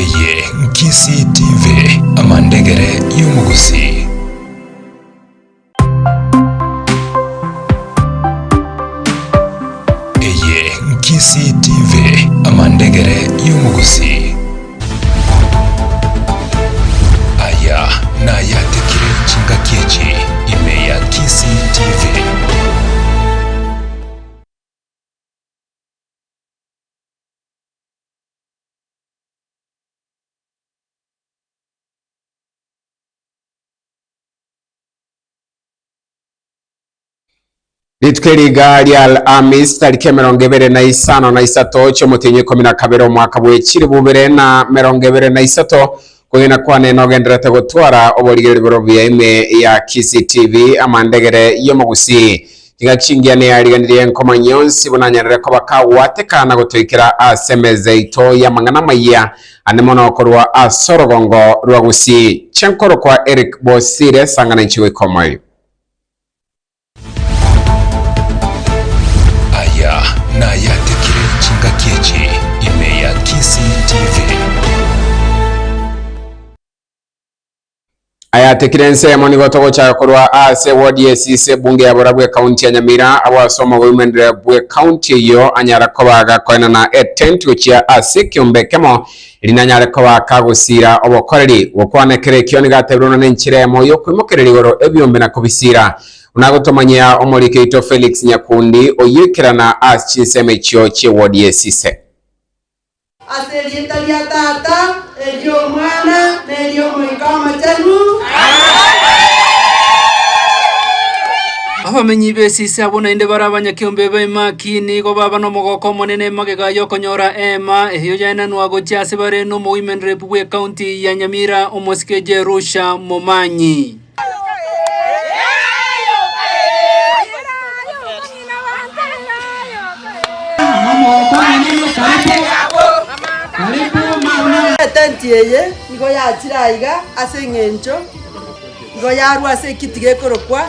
Eye Nkisii TV, amandegere y'omogusii. Eye Nkisii TV, amandegere y'omogusii. Aya nayatekire chingaki echi ime ya Kisii TV. Rituko eriga ria Alhamisi tariki emerongo ebere na isano na isato chi'omotienyi ikomi na kabere omwaka bw'echiribu ibere na merongo ebere na isato Okwegena kwane nogenderete gotwara oborigereri borobuya ime ya CCTV amandegere y'omogusii. Ingaki chingiya neyariganirie nkomanya yonsi buna nyarire koba kagwateka na gotoikera ase emeza yaito y'amang'ana amayia ande mono korwa ase orogongo rwa gusii. Chenkoro kwa Eric Bosire, sang'ana inche goika omoyo. Aya nayatekire chingaki echi ime ya Kisii TV. Ayatekire ensemo nigo togochaka korwa ase ward ya Esisi ebunge ya Borabwo ecounty ya Nyamira abwo ase omogoimenere bwe county eyio anyara koba agakoenana etent gochia ase ekiombe ekemo Rinanyare koba kagosiira obokoreri. Gokwana ekero ekio nigo atebirie buna nenchera eyemo y'okwimokereria igoro ebiombe na kobisiira. Buna gotomanyia omorike oito Felix Nyakundi, oyio ekerana as chinsemo echio chi'ewodi ye Sise. Ase erieta ria Tata, eri'Omwana, na eri'Omoika Omochenu. Abamenyi be Sise abwo naende bare abanyakeombe baye Mark. Naki nigo baba nomogoka omonene magega y'okonyora eema eyio yaenanwa gochia ase bare nomoimerereku bw'ekaunti ya Nyamira, omosike Jerusha Momanyi. Etenti eye nigo yachire aiga ase engencho igo yarwa ase ekiti gekorokwa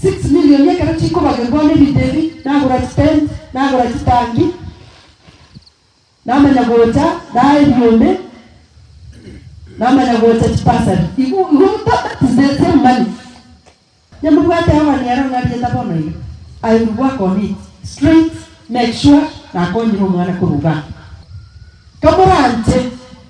Six million ekero chikobagerwa ne bitebi nagora chi tent nagora chitangi namanya gocha naye ebiombe namanya gocha chipasari igo igo tabatisetie mani nyamobwate Yehova nere ong'ariete bono iga I will work on it straight make sure nakonyire omwana korwa igaa kamoranche.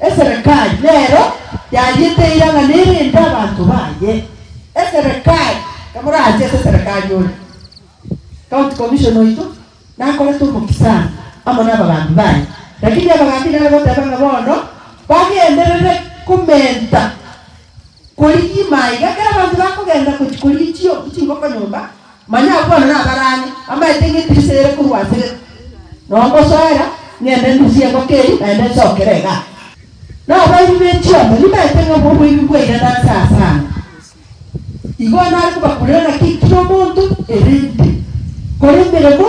Eserekari nero yariete irang'ana ere ende abanto baye. Eserekari, kamorache ase eserekari ore county commission oito nakorete omokisani amo nabagambi baye, rakini abagambi nare goteba ng'a bono bagenderere komenta korigia imaiga ekero abanto bakogenda gochia korigia chingoko nyomba. Manya abwo na abarani bamaete engetirisa eyere korwa asere, na ongosoera, ng'ende ndusie engoko eria, naende nsokere egati. Na abaibi be chiondo nibaete ng'a obwo oboibi bwaira nanse aase ane, igo nare kobakurera naki kera omonto erinde kore emeremo.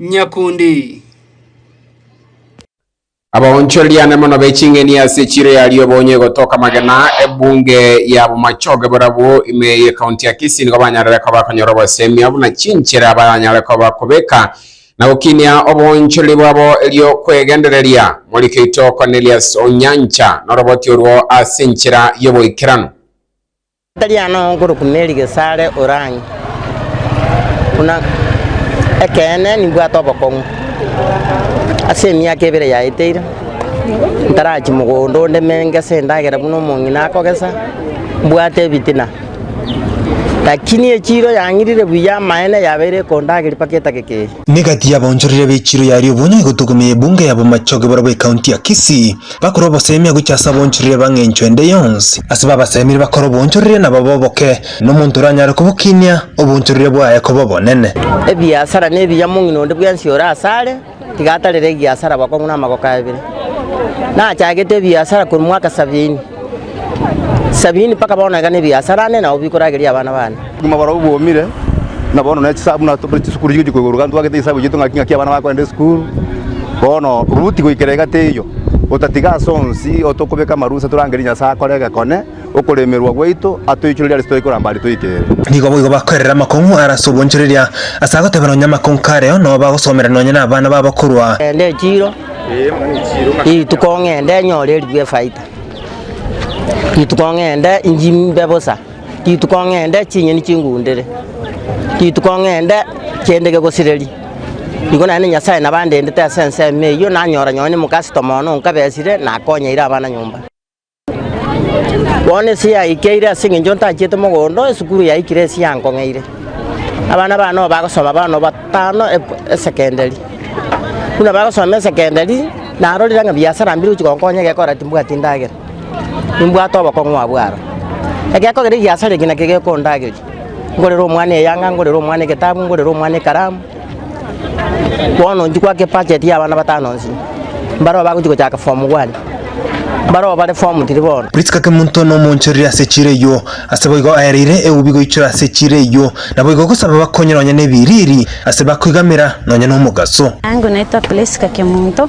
nyakundi. Abaonchoreriane mono be ching'eni ase chiro ya rioba onye gotoka amagena, ebunge ya bomachoge borabwo ime ye county ya Kisii nigo banyarire koba bakonyora obosemi buna chinchera baranyare koba kobeka na gokinia oboonchoreri bwabo erio kwegendereria. Moriki oito Cornelius Onyancha noroboti orwo ase enchera y'oboikeranu. Tari aane oo nkorokwa Mary Gesare Orange, buna ekeene nimbwate obokong'u. Ase emiaka ebere yaeteire, ntarachie mogondo onde me ngese endagera buna omong'ina akogesa, mbwate ebitina. Lakini echiiro yang'irire buya amaene yabeire ekondageria mpaka etageka eye. Niga tiyabaonchorire be echiiro yaria obonya igo togome ye ebunge ya bomachoge barabwo ekaunti ya Kisii. Bakore obosemia gochia ase aboonchorire ba ng'encho ende yonsi. Ase babasemire bakore oboonchorire nabo boboke, nomonto oranyare kobokinia oboonchorire bwaye koba obonene. Ebiasara nebiya mong'ina onde bwensi ore asare, tiga atarere egiasara abakong'u na amagoko abere. Nachagete ebiasara korwa mwaka sabiini, sabiini mpaka bono iga nebiasara ane nabo bikorageria abana bane. Obogima borobwo bwomire, na bono ne chisabu na tore chisukuru chigochia koigwa iga ntwagete chisabu chiaito ng'aki ng'aki abana bakoenda esukuru. Bono Ruti goikera egati eyio, otatiga ase onsi otokobeka amarusa torangerie Nyasae akore egekone, okoremerwa gwaito atoichorerie arese toikoramba aria toikere. Nigo boigo bakoerera amakong'u are ase obwoichoreria, ase agoteba nonya amakong'u kareo nao bagosomera nonya nabana babo korwa. Ng'ende echiro, rituko ng'ende nyore eribuya efaita, rituko ng'ende injimbe bosa. rituko ng'ende chinyeni chingundere, rituko ng'ende kende gegosireri, nigo naende Nyasae nabo andendete ase ensemo eyio nanyora nonye ne omocusstomer one onkabesire nakonyeire abana nyomba. Bono ase yaikeire ase eng'encho ntachiete mogondo esukuru yaikire ase yankong'eire, abana bane nabo bagosoma bono batano e- esekendari, buna bagosoma esekendari narorire ng'a biasara mbire gochi gonkonya egekora timbwati ndagera. nimbwate obokong'u abwo aro. Egekogera egiasare eki nakio gekondageria, ngorere omwana eyanga, ngorere omwana egetabu, ngorere omwana ekaramu, bono inche gwaka ebudget ya abana batano onsi, mbareo bagochi gochaka form one, mbareo bare form three bono. Priska Kemunto nomoonchorire ase echiira eyio, ase boigo aereire eubi goichora ase echiira eyio, naboigo gosaba bakonyora nonya nebiriiri ase bakoigamera nonya nomogaso. Naingo naitwa Priska Kemunto,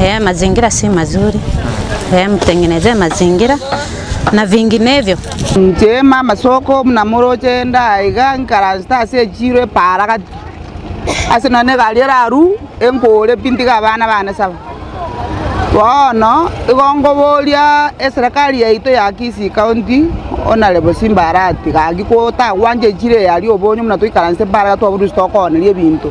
Ee mazingira si mazuri, ee mtengenezee mazingira na vinginevyo. Inche mama soko buna moroche ndaiga nkaransete ase echiro epaara gati ase nonye na egari eraru enkore pi ntige abana bane saba. Bono igo nkoboria eserekari yaito ya Kisii county Honourable Simba aratiga gaki gotagwancha echiro eye aria obonyo buna toikaransete mpaara gati twabwo dusi tokooneria ebinto.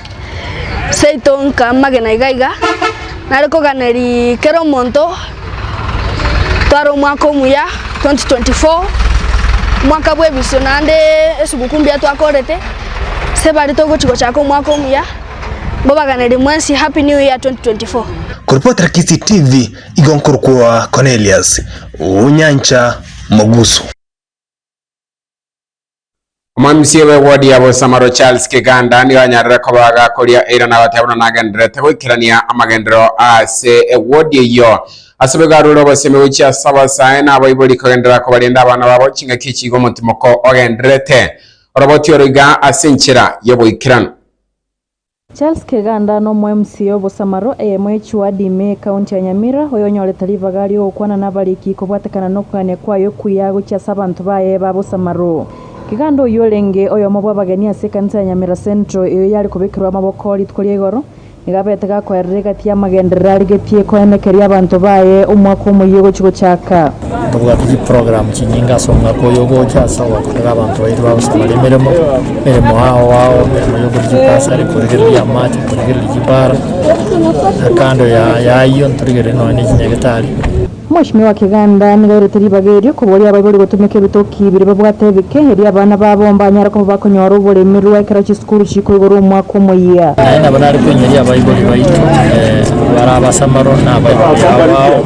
Seito nkamagena iga iga, nare koganeria kera omonto tware omwaka omuya 2024, omwaka bw'ebisio naende esiguku mbuya twakorete, ase baria togochi gochaka omwaka omuya, mbabaganerie mwensi Happy New Year 2024. Koripotera Kisii TV igo nkorokwa Cornelius Onyancha Mogusu. Omomisieri bw'ewodi ya Bosamaro Charles Kiganda nigo anyarire koba agakoria eira na goteba buna nagendererete goikerania amagenderero ase ewodi eyio. Ase boigo arure obosemi gochia ase abasae na abaibori kogenderera kobarenda abana babo ching'aki chigo omotimoko ogendererete oroboti oro iga ase enchera y'oboikeranu. Charles Keganda n'omoMCA obosamaro, eyemo ye Chuadi me ekaunti ya Nyamira, oyonyorete ribaga ri'ogokwana n'abariki kobwatekana nokogania kwaye okuya gochia ase abanto baye babosamaro. Keganda oyio orenge oyomo bw'abageni ase ekanisa ya Nyamira Central eyo yare kobekerwa amaboko rituko ria igoro, nigo abeete gakoerera egati y'amagenderero arigetie koenekeria abanto baye omwaka omoyio gochi gochaka. Tobwate chiprogramu chinyinge ase omwaka oyo ogocha ase ogokorera abanto baito bagosabaria emeremo, emeremo ao ao, emeremo y'okoria chibasari, korigereria chiamati, korigereria chibara, na kando y'ayio ntorigereire nonya ne chinyagetari. Omweshimiwa wa keganda nigo airete ribaga erio koboria abaibori gotumeka ebitoki biria babwate ebike, erio abana babo mbanyare koba bakonyora oboremerwa ekero chisukuru chikoigorwa omwaka omoyia. Naende nabo nare koinyeria abaibori baito, barabasamaru na abaibori abao.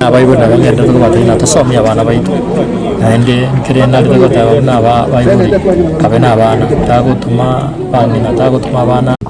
Nabaibori nabo ng'ende nigo batari natasomia abana baito, naende ekere narenge goteba buna aba abaibori, nkabe nabana, tagotoma bang'ina, tagotoma abana.